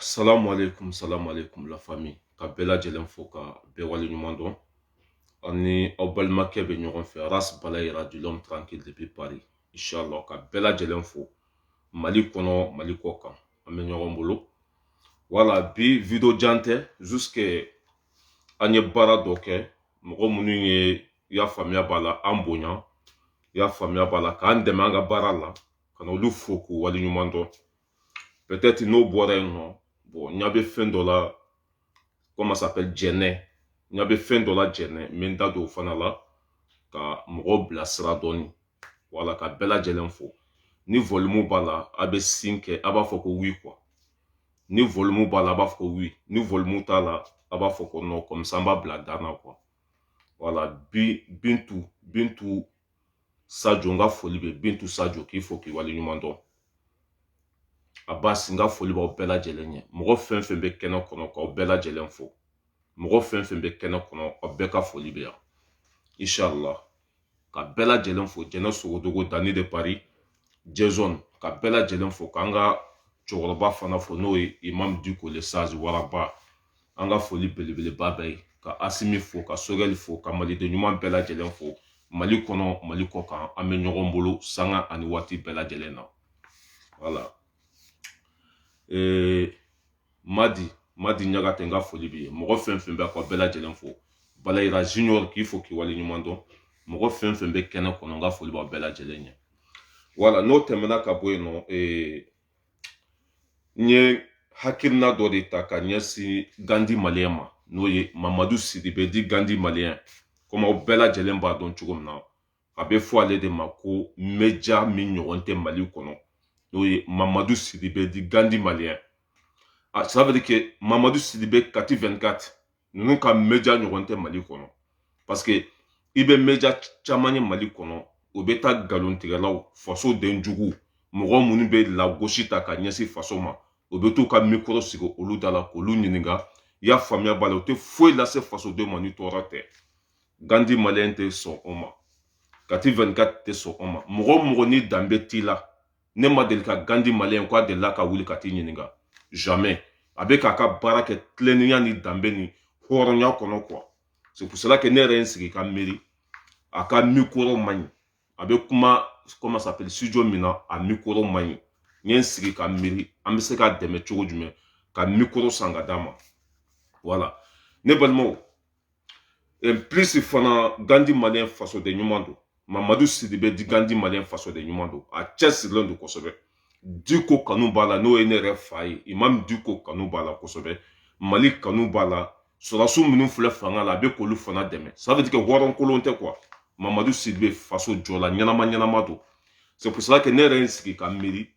Salamu aleykum salamu aleykum la famille ka bɛɛ lajɛlen fo ka bɛɛ wale ɲuman dɔn aw ni aw balimakɛ bɛ ɲɔgɔn fɛ ras balayira dit l'homme tranquille depuis paris inchallah ka bɛɛ lajɛlen fo mali kɔnɔ mali kɔ kan an bɛ ɲɔgɔn bolo voilà bi video jan tɛ jusque an ye baara dɔ kɛ mɔgɔ minnu ye i y'a faamuya b'a la an bonya i y'a faamuya b'a la k'an dɛmɛ an ka baara la ka na olu fo k'u wale ɲuman dɔn peut-être n'o bɔra yen nɔ bon n ɲa bɛ fɛn dɔ la comment ça s'appelle jɛnɛ n ɲa bɛ fɛn dɔ la jɛnɛ n bɛ n da don o fana la ka mɔgɔw bilasira dɔɔni voilà ka bɛɛ lajɛlen fo ni volume b'a la a bɛ sin kɛ a b'a fɔ ko oui quoi ni volumu b'a la a b'a fɔ ko oui ni volumu t'a la a b'a fɔ ko non comme ça an b'a bila dan na quoi voilà bintu bintu sajo n ka foli bɛ bintu sajo k'i fo k'i wale ɲuman dɔn abasi n ka foli b'aw bɛɛ lajɛlen ye mɔgɔ fɛn fɛn bɛ kɛnɛ kɔnɔ k'aw bɛɛ lajɛlen fo mɔgɔ fɛn fɛn bɛ kɛnɛ kɔnɔ aw bɛɛ ka foli bɛ yan inshallah ka bɛɛ lajɛlen fo jɛnɛ sogodogo dani de paris jason ka bɛɛ lajɛlen fo k'an ka cɛkɔrɔba fana fo n'o ye imam diko le sage waraba an ka foli belebeleba b'a ye ka asimi fo ka sogɛli fo ka maliden ɲuman bɛɛ lajɛlen fo mali kɔnɔ mali kɔ kan an bɛ ɲɔgɔn bolo sanga ani waati bɛɛ lajɛlen na voilà ee madi madi ɲagate n ka foli b'i ye mɔgɔ fɛn fɛn bɛ ka bɛɛ lajɛlen fo balayira junior k'i fo k'i wale ɲuman dɔn mɔgɔ fɛn fɛn bɛ kɛnɛ kɔnɔ n ka foli b'aw bɛɛ lajɛlen ye voilà n'o tɛmɛna ka bɔ yen nɔ ee n ye hakilina dɔ de ta ka ɲɛsin gandi maliyɛn ma n'o ye mamadu sidibe dit gandi maliyɛn komi aw bɛɛ lajɛlen b'a dɔn cogo min na a bɛ fɔ ale de ma ko mɛja min ɲɔgɔn tɛ mali kɔnɔ n'o ye mamadu sidibe dit gandi maliyɛn ça veut dire que mamadu sidibe kati vɛnkati ninnu ka mɛja ɲɔgɔn tɛ mali kɔnɔ parce que i bɛ mɛja caman ye mali kɔnɔ o bɛ taa nkalontigɛlaw fasoden juguw mɔgɔ minnu bɛ lagosi ta ka ɲɛsin faso ma o bɛ t'u ka mikɔrɔ sigi olu da la k'olu ɲininka i y'a faamuya b'a la u tɛ foyi lase fasodenw ma ni tɔɔrɔ tɛ gandi maliyɛn tɛ sɔn o ma kati vɛnkati tɛ sɔn o ma mɔgɔ mɔgɔ ni danbe t'i la ne ma deli ka gandi maliyɛn k'a delila ka wuli ka t'i ɲininka jamais a bɛ k'a ka baara kɛ tilennenya ni danbe ni hɔrɔnya kɔnɔ quoi c'est pour cela que ne yɛrɛ ye n sigi ka miiri a ka mikoro man ɲi a bɛ kuma comment ça s'appelle studio min na a mikoro man ɲi n ye n sigi ka miiri an bɛ se k'a dɛmɛ cogo jumɛn ka mikoro san ka d'a ma voilà ne balimaw plus fana gandi maliyɛn fasoden ɲuman don mamadu sidibe dit gandi maliyɛn fasoden ɲuman don a cɛsirilen don kosɛbɛ diko kanu b'a la n'o ye ne yɛrɛ fa ye imam diko kanu b'a la kosɛbɛ mali kanu b'a la sɔrɔdasiw minnu filɛ fanga la a bɛ k'olu fana dɛmɛ ça veut dire que hɔrɔnkolon tɛ quoi mamadu sidibe faso jɔla ɲɛnama ɲɛnama don c'est pour cela que ne yɛrɛ ye n sigi ka miiri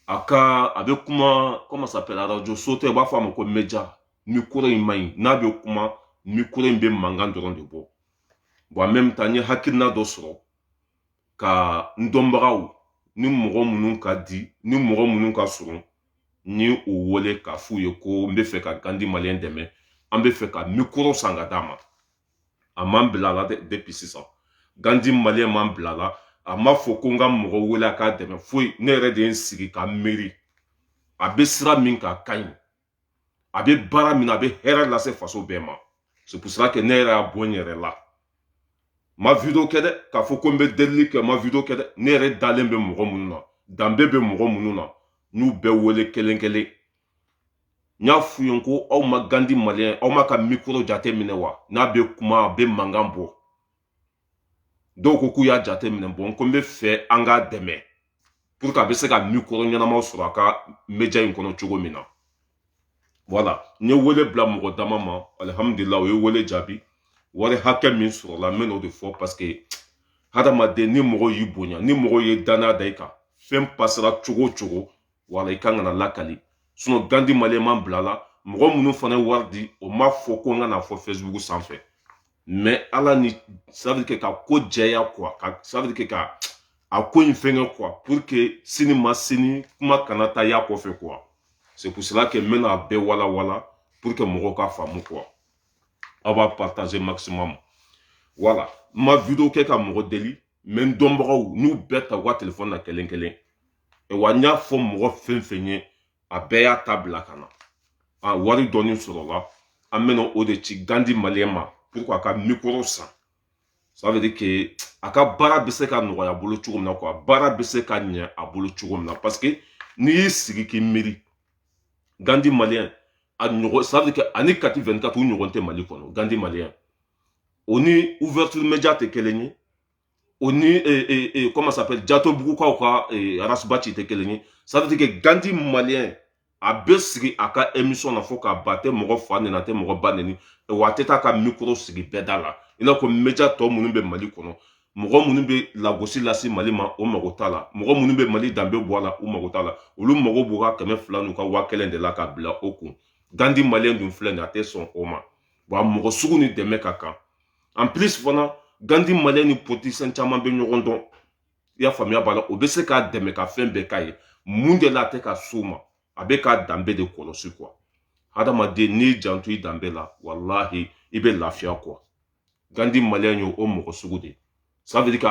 a ka a bɛ kuma comment ça s'appelle arajo so tɛ u b'a fɔ a ma ko meja mikoro in man ɲi n'a bɛ kuma mikoro in bɛ mankan dɔrɔn de bɔ bon en même temps n ye hakilina dɔ sɔrɔ ka n dɔnbagaw ni mɔgɔ minnu ka di n ye mɔgɔ minnu ka surun n y'u wele k'a f'u ye ko n b'a fɛ ka gandi maliyɛn dɛmɛ an b'a fɛ ka mikoro san ka d'a ma a ma n bila a la dɛ puis sisan gandi maliyɛn ma n bila a la a ma fɔ ko n ka mɔgɔ wele a k'a dɛmɛ foyi ne yɛrɛ de ye n sigi ka miiri a bɛ sira min kan a ka ɲi a bɛ baara min na a bɛ hɛrɛ lase faso bɛɛ ma c'est pour cela que ne yɛrɛ y'a bɔ n yɛrɛ la n ma video kɛ dɛ k'a fɔ ko n bɛ delili kɛ n ma video kɛ dɛ ne yɛrɛ dalen bɛ mɔgɔ minnu na danbe bɛ mɔgɔ minnu na n y'u bɛɛ wele kelen kelen n y'a f'u ye ko aw ma gandi maliyɛn aw m'a ka mikoro jate minɛ wa n'a bɛ kuma a bɛ mankan bɔ dɔw ko k'u y'a jate minɛ bon ko n b'a fɛ an k'a dɛmɛ pour que a bɛ se ka mikoro ɲɛnamaw sɔrɔ a ka meja in kɔnɔ cogo min na voilà n ye wele bila mɔgɔ dama ma alihamudulila u ye wele jaabi wari hakɛ min sɔrɔla n bɛn'o de fɔ parce que hadamaden ni mɔgɔ y'i bonya ni mɔgɔ ye dannaya da i kan fɛn pasera cogo o cogo voilà i kan ka n'a lakali sinon gandi maliyɛn ma n bila a la mɔgɔ minnu fana ye wari di o m'a fɔ ko n ka n'a fɔ fesibuku sanfɛ mais ala ni ça veut dire que ka ko jɛya quoi ça veut dire que ka a ko in fɛnkɛ quoi pour que sini ma sini kuma kana caya a kɔfɛ quoi c'est pour cela que n bɛna a bɛɛ walawala pour que mɔgɔw ka faamu quoi aw b'a partager maximum voilà n ma video kɛ ka mɔgɔ deli mais n dɔnbagaw n y'u bɛɛ ta u ka telefɔni na kelen kelen wa n y'a fɔ mɔgɔ fɛn fɛn ye a bɛɛ y'a ta bila ka na wari dɔɔni sɔrɔla an bɛna o de ci gandi maliyɛn ma pour a ka mikoro san ça veut dire que a ka baara bɛ se ka nɔgɔya a bolo cogo min na quoi baara bɛ se ka ɲɛ a bolo cogo min na parce que n'i y'i sigi k'i miiri gandi maliyɛn a ɲɔgɔn ça veut dire que ani kati 24 u ɲɔgɔn tɛ mali kɔnɔ gandi maliyɛn o ni ouverture media tɛ kelen ye o ni e, e, e, comment s'appelle jatobugukaw ka e, arasibaci tɛ kelen ye ça veut dire que gandi malien a bɛ sigi a ka émission na fo k'a ban a tɛ mɔgɔ fa neni a tɛ mɔgɔ ba neni wa a tɛ taa ka micro sigi bɛɛ da la i n'a fɔ media tɔ minnu bɛ mali kɔnɔ mɔgɔ minnu bɛ lagosi lase mali ma u mago t'a la mɔgɔ minnu bɛ mali danbe bɔ a la u mago t'a la olu mago b'u ka kɛmɛ fila n'u ka waa kelen de la k'a bila u kun gandi maliyɛn dun filɛ nin a tɛ sɔn o ma wa mɔgɔ sugu nin dɛmɛ ka kan en plus fana gandi maliyɛn ni politisiyɛn caman bɛ ɲɔgɔn dɔn i y'a faamuya b'a la o bɛ se k'a dɛmɛ ka fɛn bɛɛ k'a ye mun de la a tɛ ka s'o ma a bɛ k'a danbe de kɔlɔsi quoi hadamaden n'i janto i danbe la walahi i bɛ lafiya quoi gandi maliyɛn ye o mɔgɔ sugu de ye ça veut dire que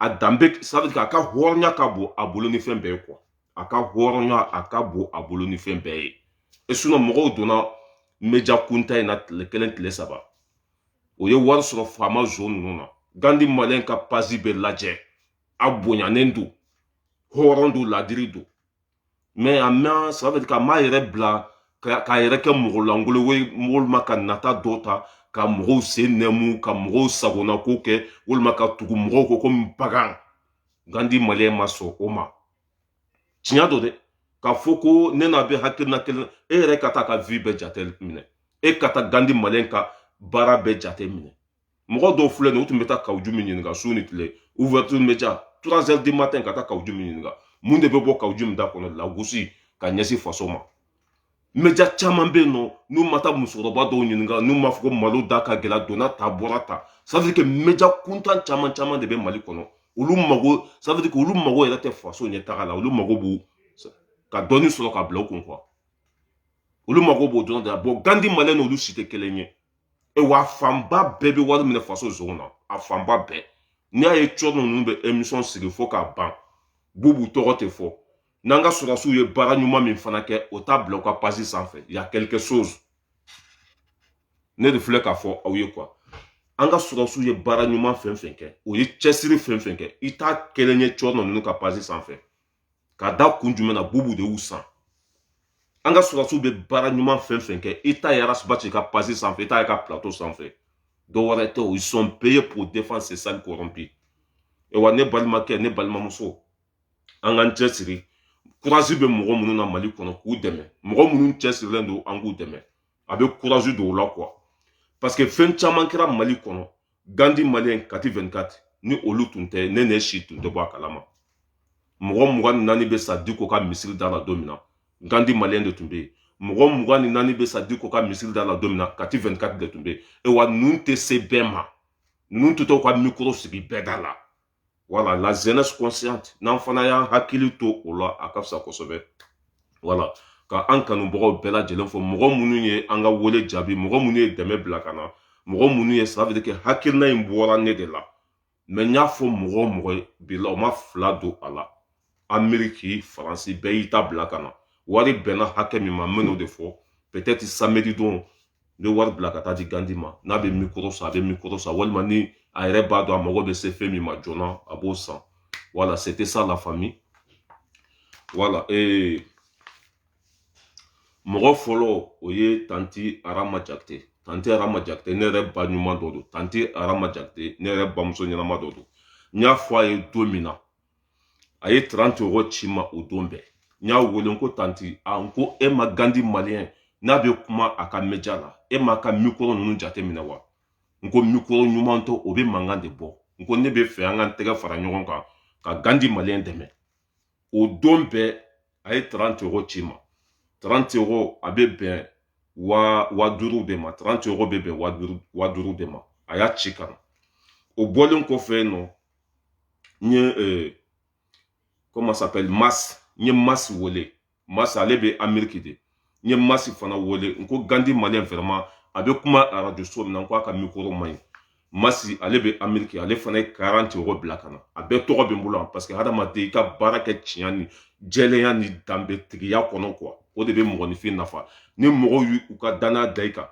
a danbe ça veut dire k'a ka hɔrɔnya ka bon a bolo ni fɛn bɛɛ ye quoi a ka hɔrɔnya a ka bon a bolo ni fɛn bɛɛ ye et sinon mɔgɔw donna média kuntan in na tile kelen tile saba o ye wari sɔrɔ faama zon ninnu na gandi maliyɛn ka page bɛɛ lajɛ a bonyanen don hɔrɔn don ladiri don mais a mɛn ça veut dire k'a m'a yɛrɛ bila k'a yɛrɛ kɛ mɔgɔ lankolon ye walima ka nata dɔ ta ka mɔgɔw sen nɛmu ka mɔgɔw sago na ko kɛ walima ka tugu mɔgɔw kɔ komi bagan gandi maliyɛn ma sɔn o ma tiɲɛ don dɛ k'a fɔ ko ne n'a bɛ hakilina kelen e yɛrɛ ka t'a ka vie bɛɛ jate minɛ e ka taa gandi maliyɛn ka baara bɛɛ jate minɛ mɔgɔ dɔw filɛ nin u tun bɛ taa kawu jim ɲininka su ni tile ouverture média trois heures du matin ka taa kawu jim ɲininka mun de bɛ bɔ kawu jim da kɔnɔ lagosi ka ɲɛsin faso ma média caman bɛ yen nɔ n'u ma taa musokɔrɔba dɔw ɲininka n'u m'a fɔ ko malo da ka gɛlɛn donna tan bɔra tan ça veut dire que média kuntan caman caman de bɛ mali kɔnɔ olu mago ça veut dire que olu mago yɛrɛ tɛ faso ɲɛtaga la olu mago b'u ka dɔɔni sɔrɔ ka bila u kun quoi olu mago b'o dɔrɔn de la bon gandi maliyɛn n'olu si tɛ kelen ye e wa fanba bɛɛ bɛ wari minɛ faso zon na a fanba bɛɛ n'i y'a ye cɛ ninnu bɛ emisɔn sigi fo k'a ban bubu tɔgɔ tɛ fɔ n'an ka sɔrɔsiw ye baara ɲuman min fana kɛ o t'a bila u ka page sanfɛ y a quelque chose ne de filɛ k'a fɔ aw ye quoi an ka sɔrɔsiw ye baara ɲuman fɛn fɛn kɛ o ye cɛsiri fɛn fɛn kɛ i t'a kelen ye cɛ ninnu ka page sanfɛ ka da kun jumɛn na bubu de y'u san an ka sɔrɔsiw bɛ baara ɲuman fɛn fɛn kɛ i t'a ye rasibaci ka page sanfɛ i t'a y'a ka plateau sanfɛ dɔ wɛrɛ tɛ o ils sont payés pour défendre ces sales corrompus e wa ne balimakɛ ne balimamuso an k'an cɛsiri courage bɛ mɔgɔ minnu na mali kɔnɔ k'u dɛmɛ mɔgɔ minnu cɛsirilen don an k'u dɛmɛ a bɛ courage don u la quoi parce que fɛn caman kɛra mali kɔnɔ gandi maliyɛn kati 24 ni olu tun tɛ ne n'e si tun tɛ bɔ a kalama mɔgɔ mugan ni naani bɛ sa diko ka misiri da la don min na gandi maliyɛn de tun bɛ yen mɔgɔ mugan ni naani bɛ sa diko ka misiri da la don min na kati 24 de tun bɛ yen e wa ninnu tɛ se bɛɛ ma ninnu tɛ t'u ka mikoro sigi bɛɛ da la voilà la jeunesse consciente n'an fana y'an hakili to o la a ka fisa kosɛbɛ voilà ka an kanubagaw bɛɛ lajɛlen fo mɔgɔ minnu ye an ka wele jaabi mɔgɔ minnu ye dɛmɛ bila ka na mɔgɔ minnu ye ça veut dire que hakilina in bɔra ne de la mais n y'a fɔ mɔgɔ o mɔgɔ ye bi la o ma fila don a la ameriki faransi bɛɛ y'i ta bila ka na wari bɛnna hakɛ min ma n bɛn'o de fɔ peut-être samedi don n bɛ wari bila ka taa di gandi ma n'a bɛ mikoro san a bɛ mikoro san walima ni a yɛrɛ b'a dɔn a mago bɛ se fɛn min ma joona a b'o san voilà c'était ça la famille voilà ee eh, mɔgɔ fɔlɔ o ye tanti arama jakite tanti arama jakite ne yɛrɛ ba ɲuman dɔ don tanti arama jakite ne yɛrɛ bamuso ɲɛnama dɔ don n y'a fɔ a ye don min na a ye trente euros ci ma o don bɛɛ n y'a wele ko tanti a n ko e ma gandi maliyɛn n'a bɛ kuma a ka média la e m'a ka mikɔrɔ ninnu jateminɛ wa n ko mikɔrɔ ɲuman tɛ o bɛ mankan de bɔ n ko ne b'a fɛ an ka tɛgɛ fara ɲɔgɔn kan ka gandi maliyɛn dɛmɛ o don bɛɛ a ye trente euros ci ma trente euros a bɛ bɛn waa waa duuru de ma trente euros bɛ bɛn waa duuru de ma a y'a ci ka na o bɔlen kɔfɛ nɔ n ye eh, comment s'appelle mas n ye mas wele mas ale bɛ ameriki de n ye masi fana wele n ko gandi maliyɛn vraiment a bɛ kuma arajo so min na n ko a ka mikoro man ɲi masi ale bɛ ameriki ale fana ye quarante euros bila ka na a bɛɛ tɔgɔ bɛ n bolo yan parce que hadamaden i ka baara kɛ tiɲɛ ni jɛlenya ni danbetigiya kɔnɔ quoi o de bɛ mɔgɔninfin nafa ni mɔgɔw y'u ka danaya da i kan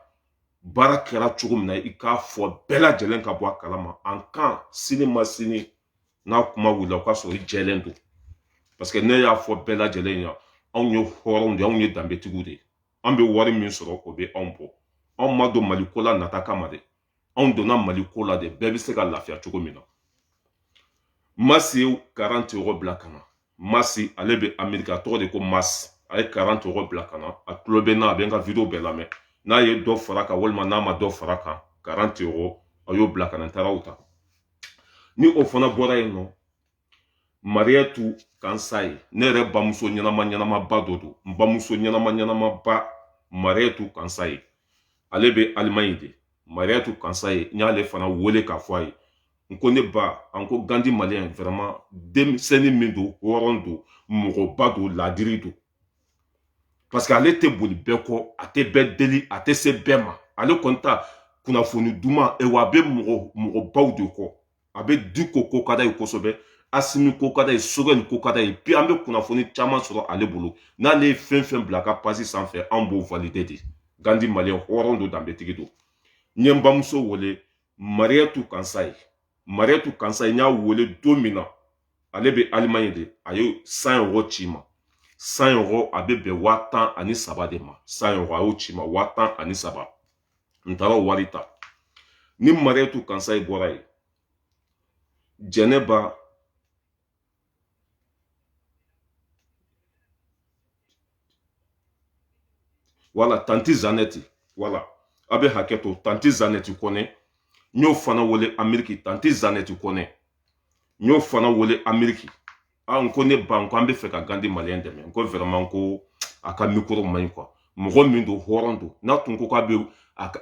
baara kɛra cogo min na i k'a fɔ bɛɛ lajɛlen ka bɔ a kalama en cas sini ma sini n'a kuma wulila o k'a sɔrɔ i jɛlen don paseke ne y'a fɔ bɛɛ lajɛlen ɲa anw ye hɔrɔnw de anw ye danbetigiw de an bɛ wari min sɔrɔ o bɛ anw bɔ anw ma don mali ko la nata kama de anw donna mali ko la de bɛɛ bɛ se ka lafiya cogo min na masi ye quarante euros bila ka na masi ale bɛ ameriki a tɔgɔ de ko masi a ye quarante euros bila ka na a tulo bɛ n na a bɛ n ka video bɛɛ lamɛn n'a ye dɔ fara kan walima n'a ma dɔ fara kan quarante euros a y'o bila ka na n taara o ta ni o fana bɔra yen nɔ mariyatu kansaye ne yɛrɛ bamuso ɲɛnama ɲɛnamaba dɔ don n bamuso ɲɛnama ɲɛnamaba mariyatu kansaye ale bɛ alimaɲi de mariyatu kansaye n y'ale fana wele k'a fɔ a ye n ko ne ba an ko gandi maliyɛn vraiment denmisɛnnin min don hɔrɔn don mɔgɔba don laadiri don parce que ale tɛ boli bɛɛ kɔ a tɛ bɛɛ deli a tɛ se bɛɛ ma ale kɔni ta kunnafoni duman e wa a bɛ mɔgɔ mɔgɔbaw de kɔ a bɛ diko ko ka d'a ye kosɛbɛ asimi ko ka d'a ye sogɛli ko ka d'a ye bi an bɛ kunnafoni caman sɔrɔ ale bolo n'ale ye fɛn fɛn bila a ka page sanfɛ anw b'o valide de gandi maliyɛn hɔrɔn don danbetigi don n ye n bamuso wele mariyatu kansaye mariyatu kansaye n y'a wele don min na ale bɛ alimaɲi de a ye cent euros ci ma cent euros a bɛ bɛn waa tan ani saba de ma cent euros a y'o ci ma waa tan ani saba n taara o wari ta ni mariyatu kansaye bɔra yen jɛnɛba wala tanti zanɛti wala a bɛ hakɛ to tanti zanɛti kɔnɛ n y'o fana wele ameriki tanti zanɛti kɔnɛ n y'o fana wele ameriki a n ko ne ba n ko an bɛ fɛ ka gandi maliyɛn dɛmɛ n ko vraiment ko a ka mikoro man ɲi quoi mɔgɔ min don hɔrɔn don n'a tun ko k'a bɛ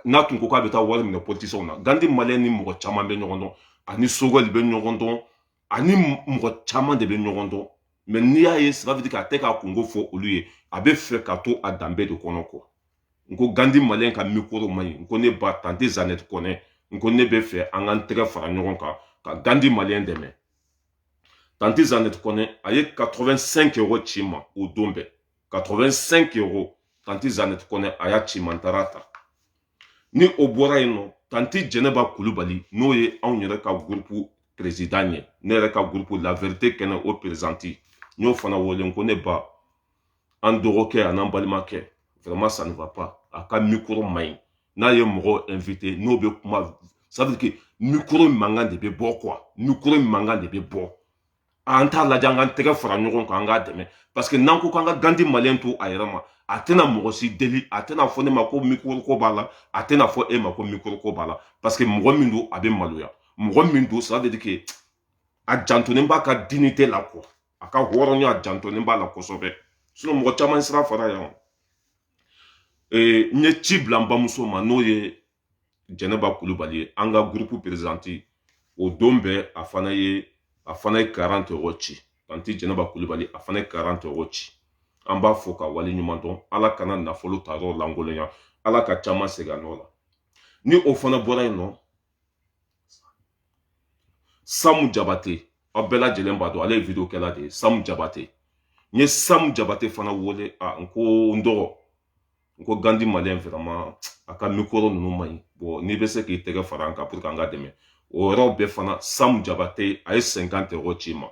n'a tun ko k'a bɛ taa wari minɛ politisiyɛnw na gandi maliyɛn ni mɔgɔ caman bɛ ɲɔgɔn dɔn ani sogɛli bɛ ɲɔgɔn dɔn ani mɔgɔ caman de bɛ ɲɔgɔn dɔn mais n'i y'a ye ça veut dire k'a tɛ k'a kunko fɔ olu ye a bɛ fɛ ka to a danbe de kɔnɔ quoi n ko gandi maliyɛn ka mikoro man ɲi n ko ne ba tanti zanɛti kɔnɛ n ko ne bɛ fɛ an k'an tɛgɛ fara ɲɔgɔn kan ka gandi maliyɛn dɛmɛ tanti zanɛti kɔnɛ a ye 85 euro ci ma o don bɛɛ 85 euro tanti zanɛti kɔnɛ a y'a ci ma n taara ta ni o bɔra yen nɔ tanti jɛnɛba kulubali n'o ye anw yɛrɛ ka gurupu perezidan ye ne yɛrɛ ka gurupu la vérité kɛnɛ o perezidanti n y'o fana wele n ko ne ba an dɔgɔkɛ an'an balimakɛ vraiment ça ne va pas a ka mikoro man ɲi n'a ye mɔgɔ invité n'o bɛ kuma ça veut dire que mikoro mankan de bɛ bɔ quoi mikoro mankan de bɛ bɔ an t'a lajɛ an k'an tɛgɛ fara ɲɔgɔn kan an k'a dɛmɛ parce que n'an ko k'an ka gandi maliyɛn to a yɛrɛ ma a tɛna mɔgɔ si deli a tɛna fɔ ne ma ko mikoro ko b'a la a tɛna fɔ e ma ko mikoro ko b'a la parce que mɔgɔ min don a bɛ maloya mɔgɔ min don ça veut dire que a jantonen b'a ka dignité la quoi a ka hɔrɔnya a jantonen b'a la kosɛbɛ sinon mɔgɔ caman sira fara yan n ye ci bila n bamuso ma n'o ye jɛnɛba kulubali ye an ka gurupu perezidanti o don bɛɛ a fana ye a fana ye 40 euro ci tanti jɛnɛba kulubali a fana ye 40 euro ci an b'a fɔ ka wale ɲuman dɔn ala kana nafolo ta yɔrɔ lankolonya ala ka caman segin a nɔ la ni o fana bɔra yen nɔ samu jabate aw bɛɛ lajɛlen b'a dɔn ale ye video kɛla de ye samu jabate n ye samu jabate fana wele a n ko n dɔgɔ n ko gandi maliyɛn vraiment a ka mikoro ninnu man ɲi bon n'i bɛ se k'i tɛgɛ fara an kan pour que an ka dɛmɛ o yɔrɔ bɛɛ fana samu jabate a ye 50 euro ci ma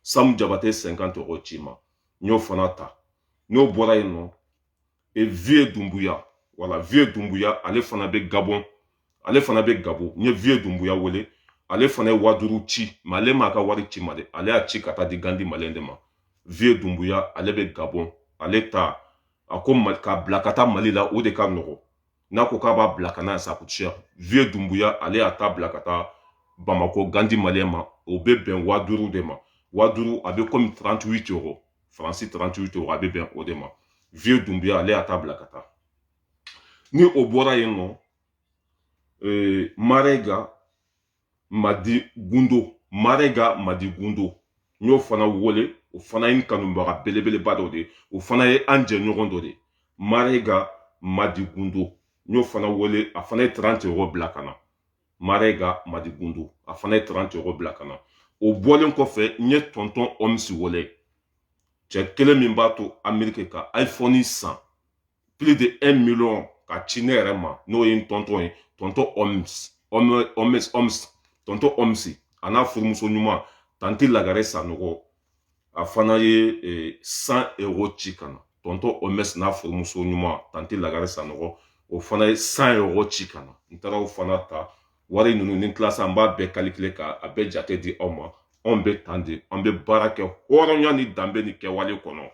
samu jabate 50 euro ci ma n y'o fana ta n'o bɔra yen nɔ e vieux dumbuya wala vieux dumbuya ale fana bɛ gabɔn ale fana bɛ gabɔn n ye vieux dumbuya wele ale fana ye waa duuru ci mais ale m'a ka wari ci ma dɛ ale y'a ci ka taa di gandi maliyɛn de ma vieux dumbuya ale bɛ gabɔn ale ta a ko k'a bila ka taa mali la o de ka nɔgɔn n'a ko k'a b'a bila ka na ça coûte cher vieux dumbuya ale y'a ta bila ka taa bamako gandi maliyɛn ma o bɛ bɛn waa duuru de ma waa duuru a bɛ komi 38 euro faransi 38 euro a bɛ bɛn o de ma vieux dumbuya ale y'a ta bila ka taa ni o bɔra yen nɔ ee marega madi gundo marega madi gundo n y'o fana wele o fana ye n kanubaga belebeleba dɔ de ye o fana ye an jɛɲɔgɔn dɔ de ye marega madi gundo n y'o fana wele a fana ye 30 euros bila ka na marega madi gundo a fana ye 30 euros bila ka na o bɔlen kɔfɛ n ye tɔntɔn omsi wele cɛ kelen min b'a to ameriki ka iphone san plus de 1 million ka ci ne yɛrɛ ma n'o ye n tɔntɔn ye tɔntɔ oms oms oms tɔntɔ omsi a n'a furumuso ɲuman tanti lagare sanɔgɔ a fana ye e, 100 euros ci ka na tɔntɔ oms n'a furumuso ɲuman tanti lagare sanɔgɔ o fana ye 100 euros ci ka na n taara o fana ta wari ninnu ni n tila sa an b'a bɛɛ kalikile ka a bɛɛ jate di aw ma anw bɛ tan de an bɛ baara kɛ hɔrɔnya ni danbe ni kɛwale kɔnɔ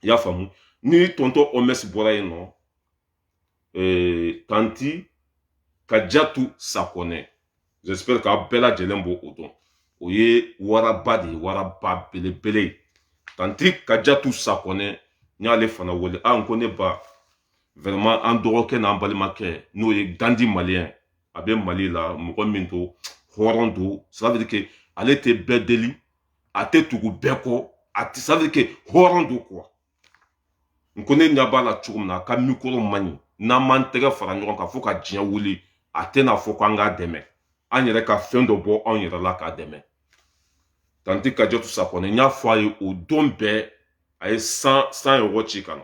i y'a faamu ni tɔntɔ oms bɔra yen nɔ ee, tanti kajatu sakɔnɛ j'espère k'aw bɛɛ lajɛlen b'o o dɔn o ye waraba de ye waraba belebele ye tanti kajatu sakɔnɛ n y'ale fana wele a n ko ne ba vraiment an dɔgɔkɛ n'an balimakɛ n'o ye gandi malien a bɛ mali la mɔgɔ min don hɔrɔn don ça veut dire que ale tɛ bɛɛ deli a tɛ tugu bɛɛ kɔ a tɛ ça veut dire que hɔrɔn don quoi n ko ne ɲɛ b'a la cogo min na a ka mikoro man ɲi n'an m'an tɛgɛ fara ɲɔgɔn kan fo ka diɲɛ wuli a tɛna fɔ k'an k'a dɛmɛ an yɛrɛ ka fɛn dɔ bɔ anw yɛrɛ la k'a dɛmɛ tanti kajatu sakɔnɛ n y'a fɔ a ye o don bɛɛ a ye 100 100 euros ci ka na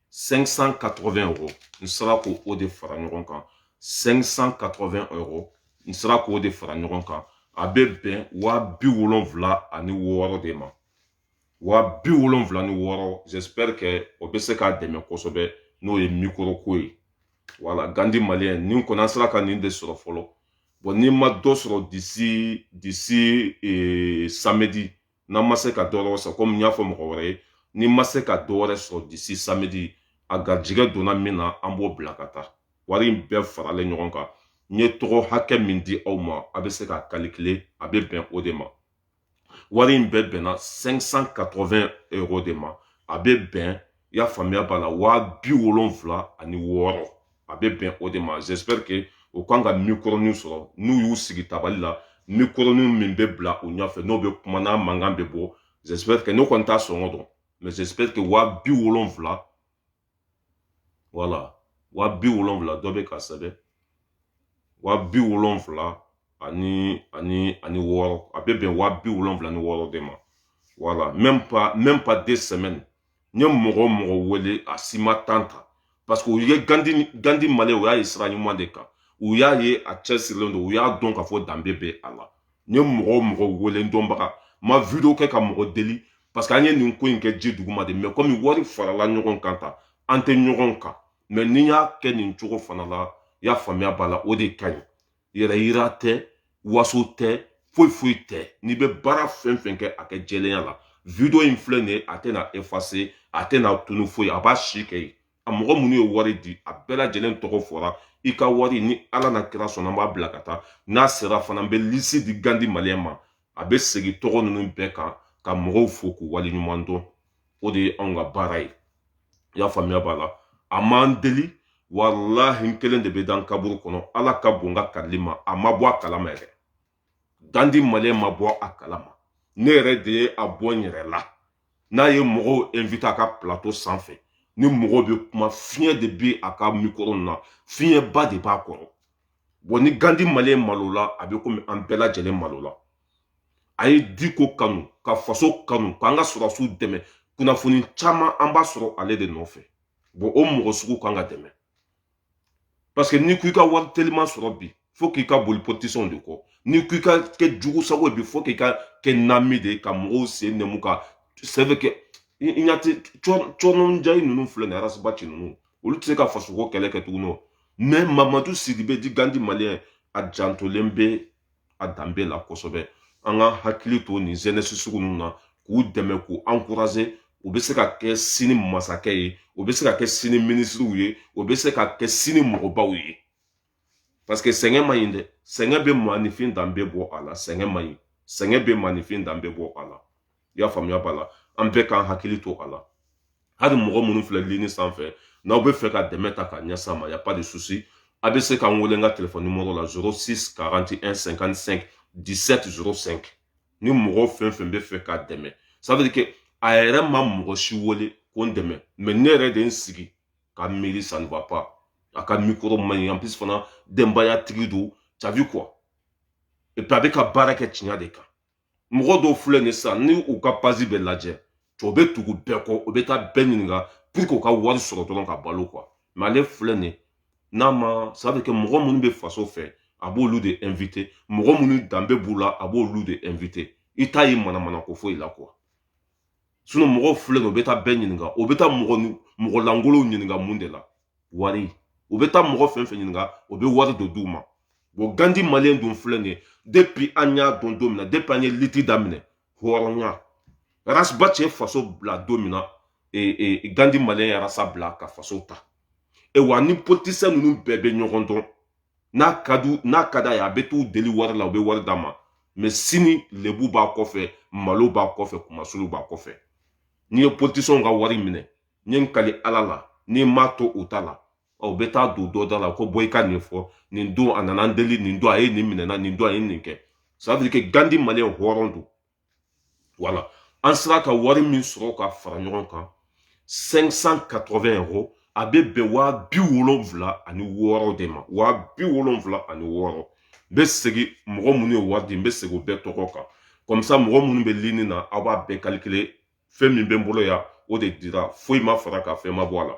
580 euros n sera k'o de fara ɲɔgɔn kan 580 euros n sera k'o de fara ɲɔgɔn kan a bɛ bɛn waa bi wolonfila ani wɔɔrɔ de ma waa bi wolonfila ni wɔɔrɔ j'espère que o bɛ se k'a dɛmɛ kosɛbɛ n'o ye mikoro ko ye voilà gandi malien nin kɔni an sera ka nin de sɔrɔ fɔlɔ bon ni n ma dɔ sɔrɔ d'ici d'ici ee, samedi n'an ma se ka dɔ wɛrɛ sɔrɔ komi n y'a fɔ mɔgɔ wɛrɛ ye ni n ma se ka dɔ wɛrɛ sɔrɔ d'ici samedi a garijigɛ donna min na an b'o bila ka taa wari in bɛɛ faralen ɲɔgɔn kan n ye tɔgɔ hakɛ min di aw ma aw bɛ se k'a kalikile a bɛ bɛn o de ma wari in bɛɛ bɛnna 580 euro de ma a bɛ bɛn i y'a faamuya b'a la waa bi wolonfila ani wɔɔrɔ a bɛ bɛn o de ma j'espère que o kan ka mikoronin sɔrɔ n'u y'u sigi tabali la mikoronin min bɛ bila u ɲɛfɛ n'o bɛ kuma n'a mankan bɛ bɔ j'espère que ne kɔni t'a sɔngɔ dɔn mais j'espère que waa bi wolonfila voilà waa bi wolonfila dɔ bɛ k'a sɛbɛn waa bi wolonfila ani ani ani wɔɔrɔ a bɛ bɛn waa bi wolonfila ni wɔɔrɔ de ma voilà même pas même pas deux semaines n ye mɔgɔ o mɔgɔ wele a si ma tan ta parce que u ye gandi maliyɛn u y'a ye sira ɲuman de kan u y'a ye a cɛsirilen don u y'a dɔn k'a fɔ danbe bɛ a la n ye mɔgɔ o mɔgɔ wele n dɔnbaga ma video kɛ ka mɔgɔ deli parce que an ye nin ko in kɛ ji duguma de mɛ komi wari farala ɲɔgɔn kan ta an tɛ ɲɔgɔn kan mɛ n'i y'a kɛ nin cogo fana la y'a faamuya b'a la o de ka ɲi yɛrɛ yira tɛ waso tɛ foyi foyi tɛ n'i bɛ baara fɛn fɛn kɛ a kɛ jɛlenya la video in filɛ nin ye a tɛna efase a tɛna tunu foyi a b'a si kɛ yen a mɔgɔ minnu ye wari di a bɛɛ lajɛlen tɔgɔ fɔra i ka wari ni ala n'a kira sɔnna an b'a bila ka taa n'a sera fana n bɛ lisi di gandi maliyɛn ma a bɛ segin tɔgɔ ninnu bɛɛ kan ka mɔgɔw fo k'u wale ɲuman dɔn o de ye anw ka baara ye i y'a faamuya b'a la a m'an deli walahi n kelen de bɛ da n kaburu kɔnɔ ala ka bon n ka karili ma a ma bɔ a kalama yɛrɛ gandi maliyɛn ma bɔ a kalama ne yɛrɛ de ye a bɔ n yɛrɛ la n'a ye mɔgɔw invite a ka plateau sanfɛ ni mɔgɔw bɛ kuma fiɲɛ de bɛ a ka mikoro na fiɲɛba de b'a kɔrɔ bɔn ni gandi maliyɛn malola a bɛ komi an bɛɛ lajɛlen malola a ye diko kanu ka faso kanu k'an ka sɔrɔsiw dɛmɛ kunnafoni caman an b'a sɔrɔ ale de nɔfɛ bɔn o mɔgɔ sugu kan ka dɛmɛ parce que n'i ko i ka wari teliman sɔrɔ bi fo k'i ka boli politisiyɛnw de kɔ n'i ko i ka kɛ jugu sago ye bi fo k'i ka kɛ nami de ye ka mɔgɔw sen nɛmu ka c'est vrai que i ɲa tɛ cɔrɔnjayi ninnu filɛ nin arasibaci ninnu olu tɛ se ka fasoko kɛlɛ kɛ tuguni o mɛ mamadu sidibe dit gandi maliyɛn a jantolen bɛ a danbe la kosɛbɛ an ka hakili to nin zɛnɛsi sugu ninnu na k'u dɛmɛ k'u ankuraze u bɛ se ka kɛ sini masakɛ ye u bɛ se ka kɛ sini minisiriw ye u bɛ se ka kɛ sini mɔgɔbaw ye parce que sɛgɛn man ɲi dɛ sɛgɛn bɛ maanifin danbe bɔ a la sɛgɛn man ɲi sɛgɛn bɛ maanifin danbe bɔ a la i y'a faamuya b'a la an bɛɛ k'an hakili to a la hali mɔgɔ minnu filɛ lini sanfɛ n'aw bɛ fɛ ka dɛmɛ ta ka ɲɛsin a ma y a pas de souci a bɛ se ka n wele n ka telefɔni nimoro la 06 41 55 17 05 ni mɔgɔ fɛn fɛn bɛ fɛ ka dɛmɛ ça veut dire que a yɛrɛ ma mɔgɔ si wele ko n dɛmɛ mais ne yɛrɛ de n sigi ka miiri ça ne va pas a ka mikoro man ɲi en plus fana denbayatigi don t'as vu quoi et puis a bɛ ka baara kɛ tiɲɛ de kan mɔgɔ dɔw filɛ nin sisan ni u ka pazi bɛɛ lajɛ o bɛ tugu bɛɛ kɔ o bɛ taa bɛɛ ɲininka puruke u ka wari sɔrɔ dɔrɔn ka balo kuwa mɛ ale filɛ nin n'a ma ça veut dire que mɔgɔ minnu bɛ faso fɛ a b'olu de ɛnvite mɔgɔ minnu danbe b'u la a b'olu de ɛnvite i t'a ye manamana ko foyi la kuwa sinɔn mɔgɔw filɛ nin o bɛ taa bɛɛ ɲininka o bɛ taa mɔgɔ lankolonw ɲininka mun de la wari u bɛ taa mɔgɔ fɛn fɛn ɲininka o bɛ wari dɔ d'u ma bɔn gandi maliyɛn dun filɛ nin ye depi an y'a dɔn don min na depi an ye liti daminɛ hɔrɔnya ras bath ye faso bila don min na e, e, e, gandi maliyɛn ye rasta bila ka faso ta e wa ni politisiyɛn ninnu bɛɛ bɛ ɲɔgɔn dɔn n'a ka du n'a ka d'a ye a bɛ t'u deli wari la u bɛ wari d'a ma mɛ sini lebu b'a kɔfɛ malo b'a kɔfɛ kunmasuuli b'a kɔfɛ n'i ye politisiyɛnw ka wari minɛ n ye n kali ala la n'i m'a to u ta la u bɛ taa don dɔ da la ko bɔ i ka nin fɔ nin don a nana n deli nin don a ye nin minɛ n na nin don a ye nin kɛ ça veut dire que gandi maliyɛn hɔrɔn don voilà an sera ka wari min sɔrɔ ka fara ɲɔgɔn kan 580 euros a bɛ bɛn waa bi wolonfila ani wɔɔrɔ de ma waa bi wolonfila ani wɔɔrɔ n bɛ segin mɔgɔ minnu ye wari di n bɛ segin o bɛɛ tɔgɔ kan kɔmisa mɔgɔ minnu bɛ lini na aw b'a bɛɛ kalikile fɛn min bɛ n bolo yan o de dira foyi ma fara a kan fɛn ma bɔ a la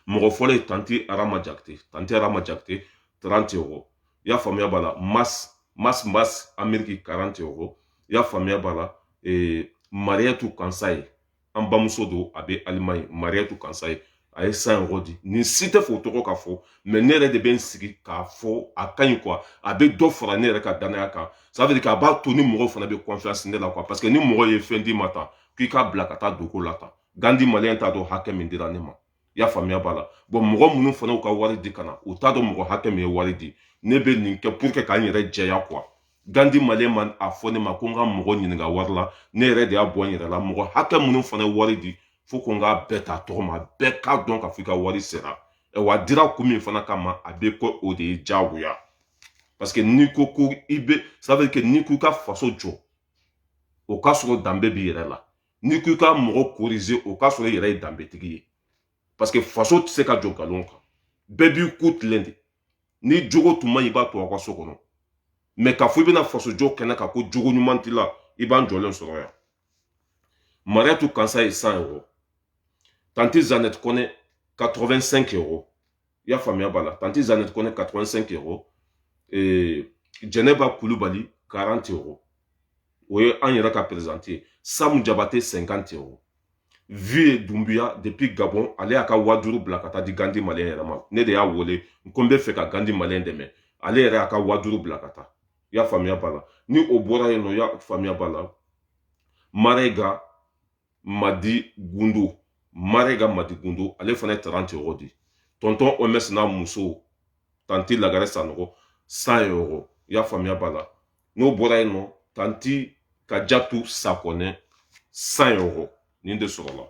mɔgɔ fɔlɔ ye tante arama jakite tante arama jakite 30 euros i y'a faamuya b'a la mas mas mas ameriki 40 euros i y'a faamuya b'a la ee, mariyatu kansaye an bamuso don a bɛ alimaɲi mariyatu kansaye a ye 100 euros di nin si tɛ fɛ u tɔgɔ ka fɔ mɛ ne yɛrɛ de bɛ n sigi k'a fɔ a ka ɲi kuwa a bɛ dɔ fara ne yɛrɛ ka danaya kan ça veut dire k'a b'a to ni mɔgɔw fana bɛ kɔnfiyansi ne la kuwa parce que ni mɔgɔ ye fɛn d'i ma tan k'i k'a bila ka taa dogo la tan gandi maliyɛn t'a dɔn hakɛ min dira ne ma i y'a faamuya b'a la bɔn mɔgɔ minnu fana y'u ka wari di ka na u t'a dɔn mɔgɔ hakɛ min ye wari di ne bɛ nin kɛ pour que k'an yɛrɛ jɛya kuwa gandi maliyɛn m'a fɔ ne ma ko n ka mɔgɔ ɲininka wari la ne yɛrɛ de y'a bɔ n yɛrɛ la mɔgɔ hakɛ minnu fana ye wari di fo ko n k'a bɛɛ ta tɔgɔma bɛɛ k'a dɔn k'a fɔ i ka wari sera w'a dira kun min fana kama a bɛ kɛ o de ye diyagoya parce que n'i ko ko i bɛ ça veut dire que n'i ko i ka faso jɔ o k'a sɔrɔ danbe b'i yɛrɛ la n'i ko i ka mɔgɔ korize o k'a sɔrɔ i yɛrɛ ye danbetigi ye parce que faso tɛ se ka jɔ nkalon kan bɛɛ b'i ku tilen de n'i jogo tun man ɲi i b'a to aw ka so kɔnɔ mɛ k'a fɔ i bɛna faso jɔ kɛnɛ kan ko jogo ɲuman t'i la i b'an jɔlen sɔrɔ yan mariatu kansaye 100 euro tanti zanet kɔnɛ 85 euro i y'a faamuya b'a la tanti zanet kɔnɛ 85 euro eh, jɛnɛba kulubali 40 euro o ye an yɛrɛ ka perezidanti ye samu jabate 50 euro viye dumbuya depuis gabon ale y'a ka waa duuru bila ka taa di gandi maliyɛn yɛrɛ ma ne de y'a wele n ko n bɛ fɛ ka gandi maliyɛn dɛmɛ ale yɛrɛ y'a ka waa duuru bila ka taa i y'a faamuya b'a la ni o bɔra yen nɔ i y'a faamuya b'a la marega madi gundu marega madi gundu ale fana ye 30 euro di tɔntɔn oms n'a muso tanti lagare sanɔgɔ 100 euro i y'a faamuya b'a la n'o bɔra yen nɔ tanti kajatu sakɔnɛ cent euros nin de sɔrɔla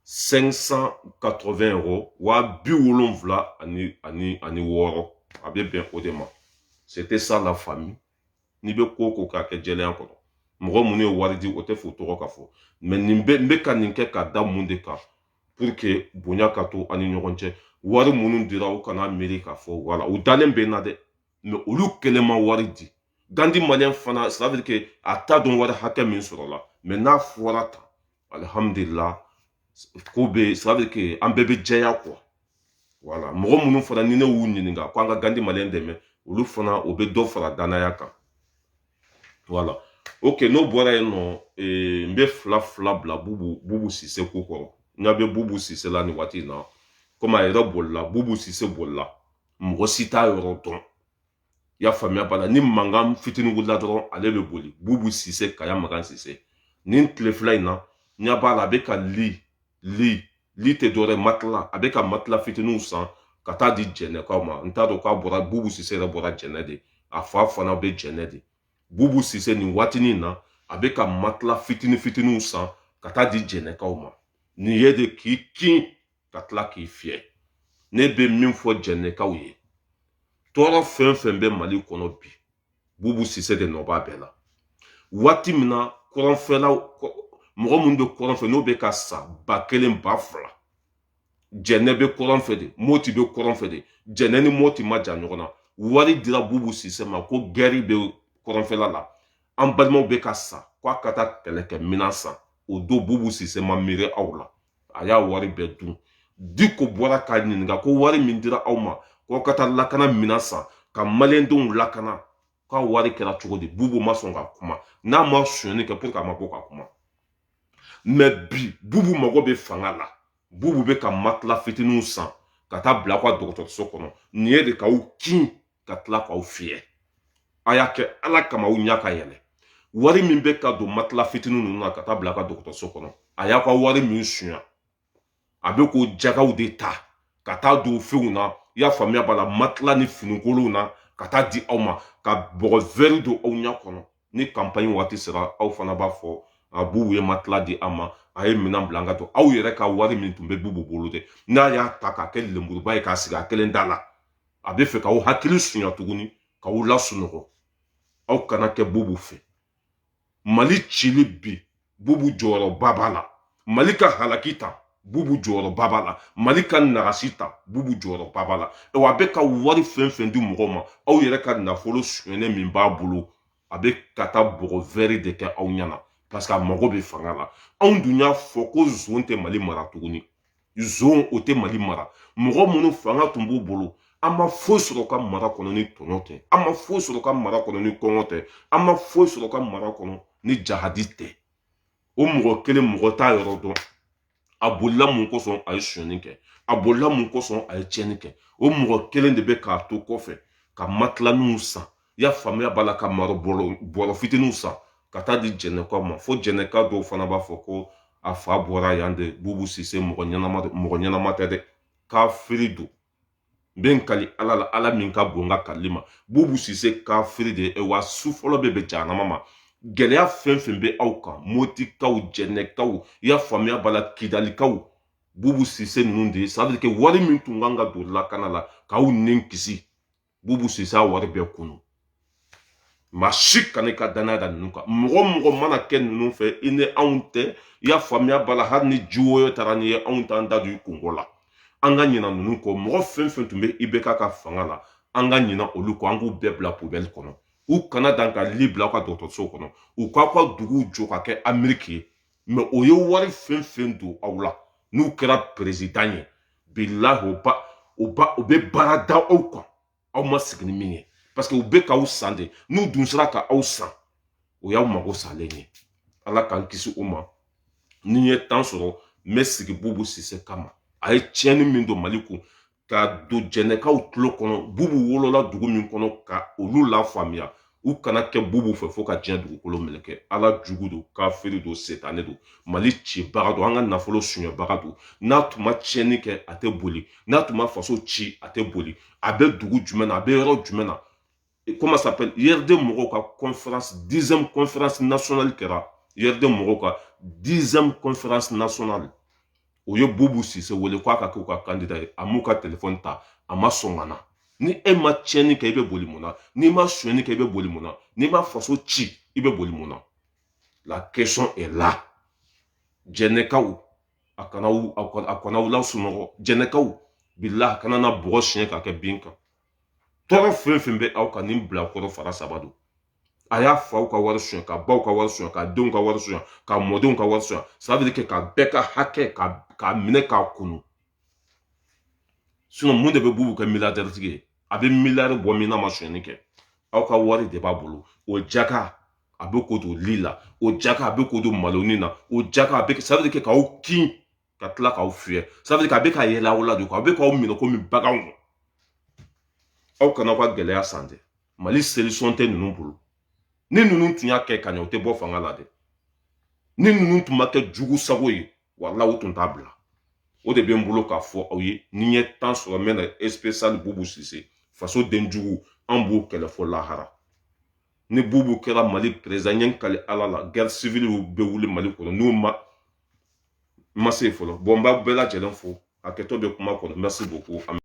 580 euros waa bi wolonwula ani ani ani wɔɔrɔ a bɛ bɛn o de ma c'était ça la famille n'i bɛ ko ko k'a kɛ jɛlenya kɔnɔ mɔgɔ minnu ye wari di o tɛ f'u tɔgɔ ka fɔ mais n bɛ ka nin kɛ ka da mun de kan pour que bonya ka to an ni ɲɔgɔn cɛ wari minnu dira u kana miiri k'a fɔ voilà u dalen bɛ n na dɛ mais olu kelen ma wari di gandi maliyɛn fana ça veut dire que a t'a dɔn wari hakɛ min sɔrɔla mais n'a fɔra tan alihamudulila ko bɛ ça veut dire que an bɛɛ bɛ jɛya quoi voilà mɔgɔ minnu fana ni ne y'u ɲininka ko an ka gandi maliyɛn dɛmɛ olu fana o bɛ dɔ fara danaya kan voilà ok n'o bɔra yen nɔ eh, n bɛ fila fila bila bubu bubu sise ko kɔrɔ n ɲa bɛ bubu sise la nin waati in na komi a yɛrɛ bolila bubu sise bolila mɔgɔ si t'a yɔrɔ dɔn i y'a faamuya b'a la ni mankan fitinin wulila dɔrɔn ale bɛ boli bubu sise kaya magan sise nin tile fila in na ɲa b'a la a bɛ ka li li li tɛ dɔwɛrɛ matila a bɛ ka matila fitininw san ka taa di jɛnɛkaw ma n t'a dɔn k'a bɔra bubu sise yɛrɛ bɔra jɛnɛ de a fa fana bɛ jɛnɛ de bubu sise nin waatinin na a bɛ ka matila fitini fitininw san ka taa di jɛnɛkaw ma nin ye de k'i kin ka tila k'i fiyɛ ne bɛ min fɔ jɛnɛkaw ye tɔɔrɔ fɛn fɛn bɛ mali kɔnɔ bi bubu sise de nɔ b'a bɛɛ la waati min na kɔrɔnfɛlaw mɔgɔ minnu bɛ kɔrɔn fɛ n'o bɛ ka sa ba kelen ba fila jɛnɛ bɛ kɔrɔn fɛ de moti bɛ kɔrɔn fɛ de jɛnɛ ni moti man jan ɲɔgɔn na wari dira bubu sise ma ko gɛri bɛ kɔrɔnfɛla la an balimaw bɛ ka sa k'a ka taa kɛlɛkɛminɛn san o don bubu sise ma miiri aw la a y'a wari bɛɛ dun diko bɔra k'a ɲininka ko wari min dira aw ma k'aw ka taa lakana minɛn san ka maliyɛndenw lakana k'a wari kɛra cogo di bubu ma sɔn ka kuma n'a ma sonyani kɛ pourquoi a ma bɔ ka kuma mais bi bubu mago bɛ fanga la bubu bɛ ka matila fitininw san ka taa bila aw ka dɔgɔtɔrɔso kɔnɔ nin ye de k'aw kin ka tila k'aw fiyɛ a y'a kɛ ala kama aw ɲa ka yɛlɛ wari min bɛ ka don matila fitinin ninnu na ka taa bila ka dɔgɔtɔrɔso kɔnɔ a y'aw ka wari min sunya a bɛ k'o jagaw de ta ka taa don fɛnw na i y'a faamuya b'a la matila ni finikolonw na ka taa di aw ma ka bɔgɔ vɛri don aw ɲɛ kɔnɔ ni kanpanɲi waati sera aw fana b'a fɔ a bubu ye matila di an ma a ye minɛn bila an ka to aw yɛrɛ ka wari min tun bɛ bubu bolo dɛ n'a y'a ta k'a kɛ lenburuba ye k'a sigi a kelen da la a bɛ fɛ k'aw hakili sunya tuguni k'aw lasunɔgɔ aw kana kɛ bubu fɛ mali cili bi bubu jɔyɔrɔba b'a la mali ka halaki ta bubu jɔyɔrɔba b'a la mali ka nagasi ta bubu jɔyɔrɔba b'a la wa a bɛ ka wari fɛn fɛn di mɔgɔ ma aw yɛrɛ ka nafolo sonyɛnen min b'a bolo a bɛ ka taa bɔgɔ wɛri de kɛ aw ɲɛ na parce que a mago bɛ fanga la anw dun y'a fɔ ko zon tɛ mali mara tuguni zon o tɛ mali mara mɔgɔ minnu fanga tun b'u bolo an ma foyi sɔrɔ ka mara kɔnɔ ni tɔɲɔ tɛ an ma foyi sɔrɔ ka mara kɔnɔ ni kɔngɔ tɛ an ma foyi sɔrɔ ka mara kɔnɔ ni jahadi tɛ o mɔgɔ kelen mɔgɔ t'a yɔrɔ dɔn a bolila mun kosɔn a ye sonyani kɛ a bolila mun kosɔn a ye tiɲɛni kɛ o mɔgɔ kelen de bɛ ka to kɔfɛ ka matilaninw san i y'a faamuya b'a la ka maro bɔrɔ fitininw san ka taa di jɛnɛkaw ma fo jɛnɛka dɔw fana b'a fɔ ko a fa bɔra yan de bubu sise mɔgɔ ɲɛnama mɔgɔ ɲɛnama tɛ dɛ kafiri don n bɛ n kali ala la ala min ka bon n ka kalili ma bubu sise kafiri de wa su fɔlɔ bɛ bɛn jahanama ma gɛlɛya fɛn fɛn bɛ aw kan motikaw jɛnɛkaw i y'a faamuya b'a la kidalikaw bubu sise ninnu de ça veut dire que wari min tun kan ka don lakana la k'aw ni kisi bubu sise y'a wari bɛɛ kunu maa si kana i ka danaya da ninnu kan mɔgɔ mɔgɔ mana kɛ ninnu fɛ i ni anw tɛ i y'a faamuya b'a la hali ni ji woyo taara n'i ye anw t'an da don i kunko la an ka ɲina ninnu kɔ mɔgɔ fɛn fɛn tun bɛ IBK ka fanga la an ka ɲina olu kɔ an k'u bɛɛ bila poubelle kɔnɔ u kana dan ka li bila aw ka dɔgɔtɔrɔso kɔnɔ u k'aw ka duguw jɔ ka kɛ ameriki ye mais u ye wari fɛn fɛn don aw la n'u kɛra perezidan ye bilahi o ba o ba u bɛ baara da aw kan aw ma sigi ni min ye parce que u bɛ k'aw san de n'u dun sera ka aw san o y'aw mago salen ye ala k'an kisi o ma ni n ye temps sɔrɔ n bɛ sigi bubu sise kama a ye tiɲɛni min don mali kun ka don jɛnɛkaw tulo kɔnɔ bubu wolola dugu min kɔnɔ ka olu lafaamuya u kana kɛ bubu fɛ fo ka diɲɛ dugukolo meleke ala jugu don kafiri don setane don mali cibaga don an ka nafolo sunyabaga don n'a tun ma tiɲɛni kɛ a tɛ boli n'a tun ma faso ci a tɛ boli a bɛ dugu jumɛn na a bɛ yɔrɔ jumɛn na comment ça s'appelle URD mɔgɔw ka conférence dixième conférence nationale kɛra URD mɔgɔw ka dixième conférence nationale u ye bubu sise wele k'a ka k'u ka kandida ye a m'u ka telefɔni ta a ma sɔn ka na ni e ma tiɲɛni kɛ i bɛ boli mun na n'i ma sonyɛni kɛ i bɛ boli mun na n'i ma faso ci i bɛ boli mun na la question est là jɛnɛkaw a kana a kana aw lasunɔgɔ jɛnɛkaw bilahi a kana na bɔgɔ siɲɛ ka kɛ bin kan tɔɔrɔ fɛn fɛn bɛ aw kan nin bilakoro fara saba don a y'a faw ka wari sonya ka baw ka wari sonya ka denw ka wari sonya ka mɔdenw ka wari sonya ça veut dire que ka bɛɛ ka hakɛ k'a minɛ k'a kunu sinɔn mun de bɛ bubu kɛ miliyardɛritigi ye a bɛ miliyari bɔ min n'a ma sonyani kɛ aw ka wari de b'a bolo o jaka a bɛ k'o don li la o jaka a bɛ k'o don maloni na o jaka a bɛ ça veut dire que k'aw kin ka tila k'aw fiyɛ ça veut dire que a bɛ ka yɛlɛ aw la de a bɛ k'aw minɛ komi baganw aw kana aw ka gɛlɛya san dɛ mali solution tɛ ninnu bolo ni ninnu tun y'a kɛ ka ɲɛ u tɛ bɔ fanga la dɛ ni ninnu tun ma kɛ jugu sago ye walayi u tun t'a bila o de bɛ n bolo k'a fɔ aw ye ni n ye tan sɔrɔ n bɛ na spécial bubu sise faso den jugu an b'u kɛlɛ fo lahara ni bubu kɛra mali perezidan ye kali ala la gɛri sivili bɛ wuli mali kɔnɔ n'u ma ma se fɔlɔ bon n b'a bɛɛ lajɛlen fo a kɛtɔ bɛ kuma kɔnɔ merci beaucoup